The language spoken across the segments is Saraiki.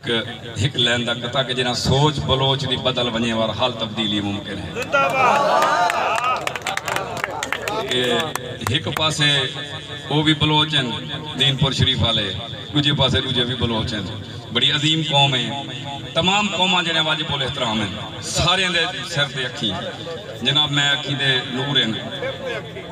ک ہک لین دا قطعہ کہ جنہاں سوچ بلوچ دی بدل ونجے وار حال تبدیلی ممکن ہے۔ کہ ہک پاسے او وی بلوچ ہن دین پور شریف آلے ڈوجھے پاسے ڈوجھے وی بلوچ ہن بڑی عظیم قوم ہے تمام قوماں جیڑیاں واجب الاحترام ہن ساریاں دے سر تے اکھیں جناب میں اکھیں دے نور ہن۔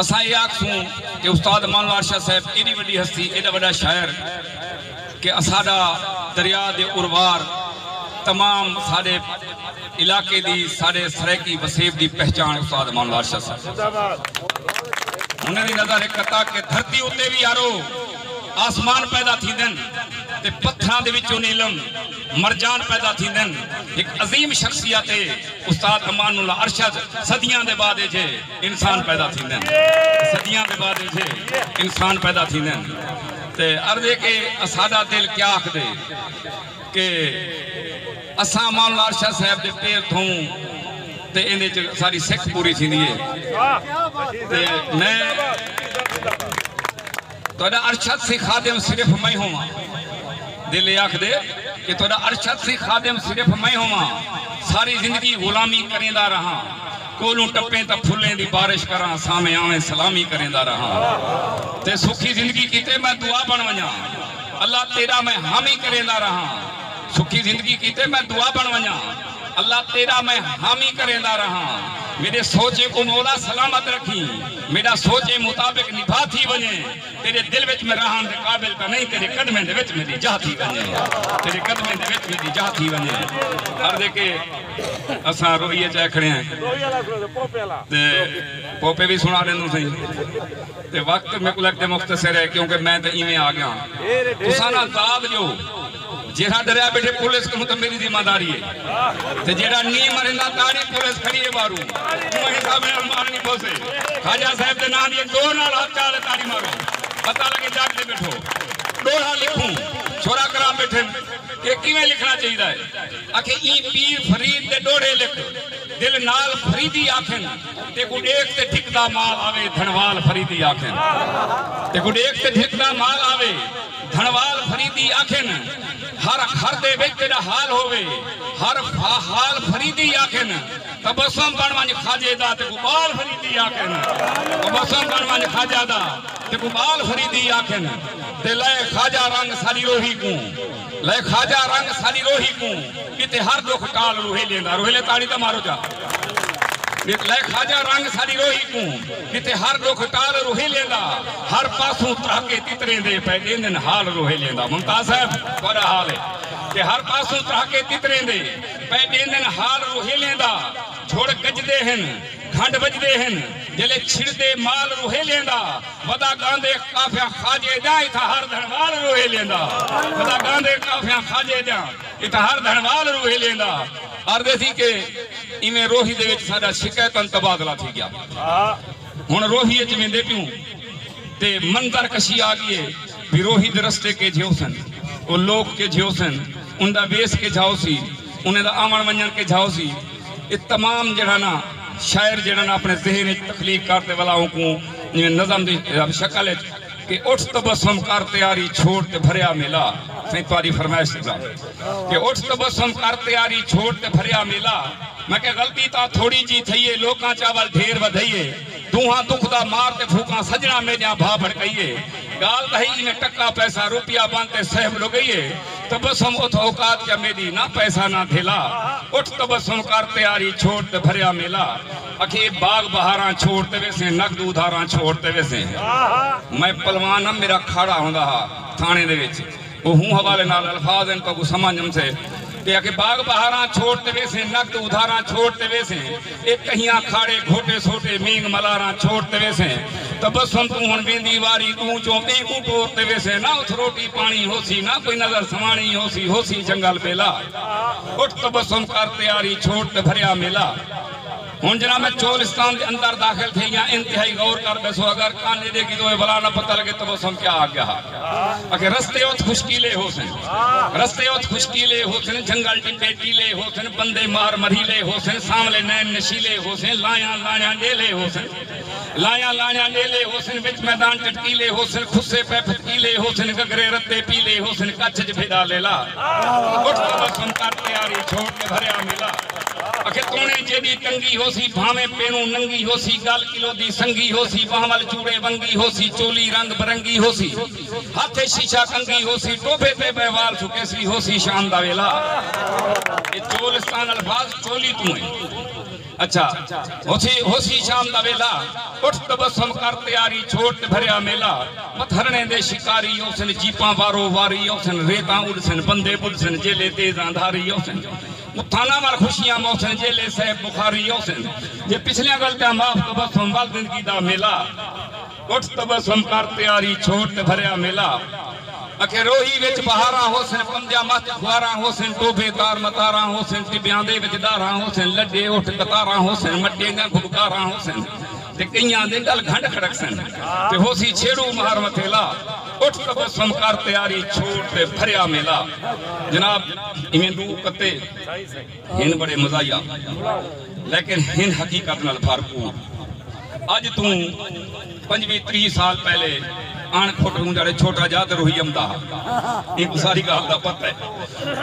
اساں ایہ آکھسوں کہ استاد مانوار شاہ صاحب ایݙی وݙی ہستی، ایݙا وݙا شاعر کہ اساݙا دریا دے اروار تمام ساݙے علاقے دی، ساݙے سرائیکی وسیب دی پہچاݨ استاد مانوار شاہ صاحب زندہ باد۔ انھاں دی نظر ہک عطا کہ دھرتی اتے وی یارو آسمان پیدا تھیندن تے پتھراں دے وچوں نیلم مرجان پیدا تھیندن ہک عظیم شخصیت اے استاد امان اللہ ارشد صدیاں دے بعد ایجھے انسان پیدا تھیندے ہیں صدیاں دے بعد ایجھے انسان پیدا تھیندے ہیں تے عرض ہے کہ اساڈا دل کیا آکھ دے کہ اساں مال نال شاہ صاحب دے پیر تھوں تے ایندے چ ساری سکھ پوری تھیندی ہے تے میں تہاݙا ارشد سی خادم صرف میں ہوواں۔ دل اے آکھدے کہ تہاݙا ارشد سی خادم صرف میں ہوواں۔ ساری زندگی غلامی کریندا رہاں۔ کولوں ٹپیں تاں پھلیں دی بارش کراں سامیں آویں سلامی کریندا رہاں۔ تے سکھی زندگی کیتے میں دعا بݨ ونڄاں۔ اللہ تیݙا میں حامی کریندا رہاں۔ سکھی زندگی کیتے میں دعا بݨ ونڄاں۔ اللہ تیݙا میں حامی کریندا رہاں۔ میݙے سوچیں کوں مولا سلامت رکھیں۔ میݙا سوچیں مطابق نبھا تھی ونڄے تیݙے دل وچ میں رہݨ دے قابل تاں نئیں تیݙے قدمیں دے وچ میݙی جاہ تھی ونڄے تیݙے قدمیں دے وچ میݙی جاہ تھی ونڄے عرض ہے کہ اساں روہی اچ آئے کھڑے ہیں تے پوپے وی سݨا ݙیندوں سئیں تے وقت میکوں لڳدے مختصر ہے کیونکہ میں تے ایویں آ ڳیاں تساں نہ داد ݙیو جیڑھا ڈریا بیٹھے پولیس کنوں تے میڈی ذمہ داری ہے تے جیڑھا نی مریندا تاڑی پولیس کھڑی ہے باہروں اوہاں حساب نال مارنی پوسے خواجہ صاحب دے ناں دی زور نال ہتھ چا تے تاڑی مارو پتہ لگے جاگ تے بیٹھو ڈوہا لکھوں چھوڑا کراں بیٹھن کہ کیویں لکھنا چاہیدا ہے اکھے ایں پیر فرید دے ڈوہڑے لکھ دل نال فریدی آکھن تیکوں ڈیکھ تے ڈھکدا مال آوے دھنوال فریدی آکھن تیکوں ڈیکھ تے ڈھکدا مال آوے دھنوال فریدی آکھن ہر گھر دے وچ تیݙا حال ہووے ہر فاحال فریدی آکھن تبسم بݨ ونڄ خواجے دا تیکوں ٻال فریدی آکھن تبسم بݨ ونڄ خواجہ دا تیکوں ٻال فریدی آکھن تے لئے خواجہ رنگ ساݙی روہی کوں لئے خواجہ رنگ ساݙی روہی کوں ݙتے ہر ݙکھ ٹال روہیلیں دا روہیلیں تاڑی تاں مارو جا لئے خواجہ رنگ ساݙی روہی کوں جتے ہر ڈکھ ٹال روہیلیں دا ہر پاسوں ترہکے تتریں دے پئے ڈیندن حال روہیلیں دا ممتاز صاحب تہاڈا حال ہے کہ ہر پاسوں ترہکے تتریں دے پئے ڈیندن حال روہیلیں دا جھڑ گجدے ہن گھنڈ وجدے ہن جلے چھڑدے مال روہیلیں دا ودا گاندے قافیاں خواجے دیاں اتھا ہر دھنوال روہیلیں دا ودا گاندے قافیاں خواجے دیاں اتھا ہر دھنوال روہیلیں دا۔ آردے تھی کہ ایویں روہی دے وچ ساڈا شکیتن تبادلہ تھی گیا ہن روہی اچ ویندے پیوں تے منظر کشی آگی اے بھئی روہی دے رستے کیجھے ہوسن او لوک کیجھے ہوسن اندا ویس کیجھا ہوسی انہیں دا آون ونجن کیجھا ہوسی اے تمام جیڑھا نا شاعر جیڑھا نا اپنے ذہن اچ تخلیق کر تے ولا اونکوں جیویں نظم دی شکل اچ کہ اٹھ تبسم کر تیاری چھوڑ تے بھریا میلا سائیں تہاڈی فرمائش دی گال کہ اٹھ تبسم کر تیاری چھوڑ تے بھریا میلا میں کہ غلطی تاں تھوڑی جی تھئی اے لوکاں چاول ڈھیر ودھئی اے دونہاں دکھ دا مار تے پھوکاں سجناں میڈیاں بھا بھڑکئی اے گال تاں ہئی ایویں ٹکا پیسہ روپیہ بن تے صحب لگئی اے تبسم اتھ اوقات کیا میڈی نہ پیسہ نہ دھیلا اٹھ تبسم کر تیاری چھوڑ تے بھریا میلا۔ اکھیں اے باغ بہاراں چھوڑ تے ویسیں نک دو ادھاراں چھوڑ تے ویسیں میں پلوان ہم میرا کھاڑا ہوندا ہا تھانے دے وچ او ہوں حوالے نال الفاظ ہن تہاکوں سمجھ امسے کہ اکھیں باغ بہاراں چھوڑ تے ویسیں نک دو ادھاراں چھوڑ تے ویسیں اے کہیاں کھاڑے گھوٹے سوٹے مینگ ملاراں چھوڑ تے ویسیں تبسم توں ہن ویندی واری ڈوں چوں بیں کوں ٹور تے ویسیں نہ اتھ روٹی پانی ہوسی نہ کوئی نظر سواݨی ہوسی ہوسی جنگل بیلا اٹھ تبسم کر تیاری چھوڑ تے بھریا میلا۔ ہن جناب میں چولستان دے اندر داخل تھے یا انتہائی غور کر بیسو اگر کانے دے کی دوئے بلا نہ پتہ لگے تو وہ سم کیا آگیا ہا اگر رستے ہوت خوشکیلے ہو سن رستے ہوت خوشکیلے ہو سن جنگل ٹی بیٹیلے ہو سن بندے مار مریلے ہو سن ساملے نین نشیلے ہو سن لائیاں لائیاں ڈیلے ہو سن لایا لایا نیلے ہوسن وچ میدان چٹکیلے ہوسن کھسے پے پھتکیلے ہوسن گھگھرے رتے پیلے ہوسن کچھ اچ بھیدا لیلا اٹھ تبسم کر تیاری چھوڑ کے بھریا میلا اکھے تونے جیڈی تنگی ہوسی بھاویں پینوں ننگی ہوسی گل کلو دی سنگی ہوسی بہاں ول چوڑے ونگی ہوسی چولی رنگ برنگی ہوسی ہتھ اچ شیشہ کنگھی ہوسی ٹوبھے تے بئے وال سکیسی ہوسی شام دا ویلا اے چولستان الفاظ چولی توں ایں۔ اچھا ہوسی ہوسی شام دا ویلا اٹھ تبسم کر تیاری چھوڑ تے بھریا میلا مت ہرنیں دے شکاری اوسن جیپاں وارو واری اوسن ریتاں اڈسن بندے بدھسن جیلے تیز اندھاری اوسن متھاناں ول خوشیاں موسن جیلے صیب بخاری اوسن جے پچھلیاں غلطیاں معاف تبسم ول زندگی دا میلا۔ اٹھ تبسم کر پیاری چھوڑ تے بھریا میلا اکھے روہی وچ بہاراں ہوسن پنجاں مہت خواراں ہوسن ٹوبھے تار متاراں ہوسن ٹبیاں دے وچ ڈاراں ہوسن لڈے اٹھ قطاراں ہوسن مٹے دیاں گھبکاراں ہوسن تے کئیاں دے گل گھنڈ کھڑکسن تے ہوسی چھیڑو مہر متھیلا اٹھ تبسم کر پیاری چھوڑ تے بھریا میلا جناب ایویں ڈو کتے ہن بڑے مزاحیہ لیکن ہن حقیقت نال بھر پور۔ اج توں پنجوی تریہہ سال پہلے اݨ کھٹ ہوں جاڑے چھوٹا جاہ تے روہی امدا ہا۔ اینکوں ساری گالھ دا پتہ ہے۔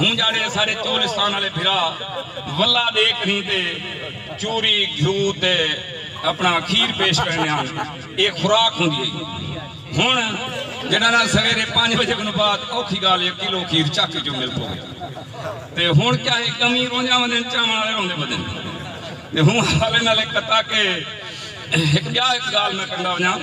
ہوں جاڑے ساڈے چولستان آلے بھرا ولہ ڈے کہیں تے چوری گھیو تے اپنا کھیر پیش کریندے ہن اے خوراک ہوندی ہئی۔ ہن جڈاناں سویرے پنج بجے کنوں بعد اوکھی گالھ اے کلو کھیر چک اچوں مل پوے۔ تے ہن کیا ہے کمی رونجاں وندین چاون آلے روندے ودین تے ہوں حوالے نال اک قطعہ کہ ہک بیا اک گال میں کرندا ونجاں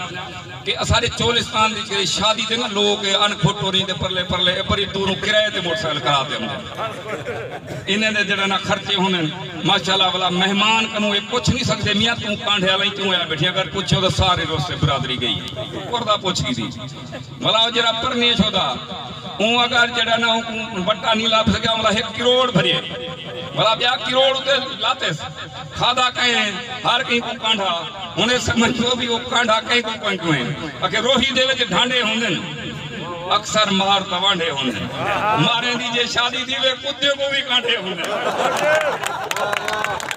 کہ اساڈے چولستان وچ کدے شادی تے نہ لوگ اے ان پھٹوریں دے پرلے پرلے اے بڑی دوروں کرائے تے موٹر سائیکل کرا تے اوندے انہیں دے جڑے نہ خرچے ہوندن ماشاءاللہ ولا مہمان کنوں اے پچھ نی سکدے میاں توں کانڈھے آلیں کیوں آیا بیٹھیاں اگر پچھیو تاں سارے روسے برادری گئی اے کردہ پچھ گیدی بھلا او جیہڑا پرنیش ہودا اوں اگر جیہڑا نہ اونکوں وٹا نی لبھ سگیا بھلا ہک کروڑ بھریے بھلا ٻیا کروڑ اتے لاتیس کھادا کئیں ہر کہیں کوں کانڈھا ہن اے سمجھ لو وی او کانڈھا کئیں کوں کوئیں کوئیں اکھے روہی دے وچ ڈھانڈے ہوندن اکثر مار توانڈھے ہوندن ماریں دی جے شادی تھیوے کتیوں کوں وی کانڈھے ہوندن۔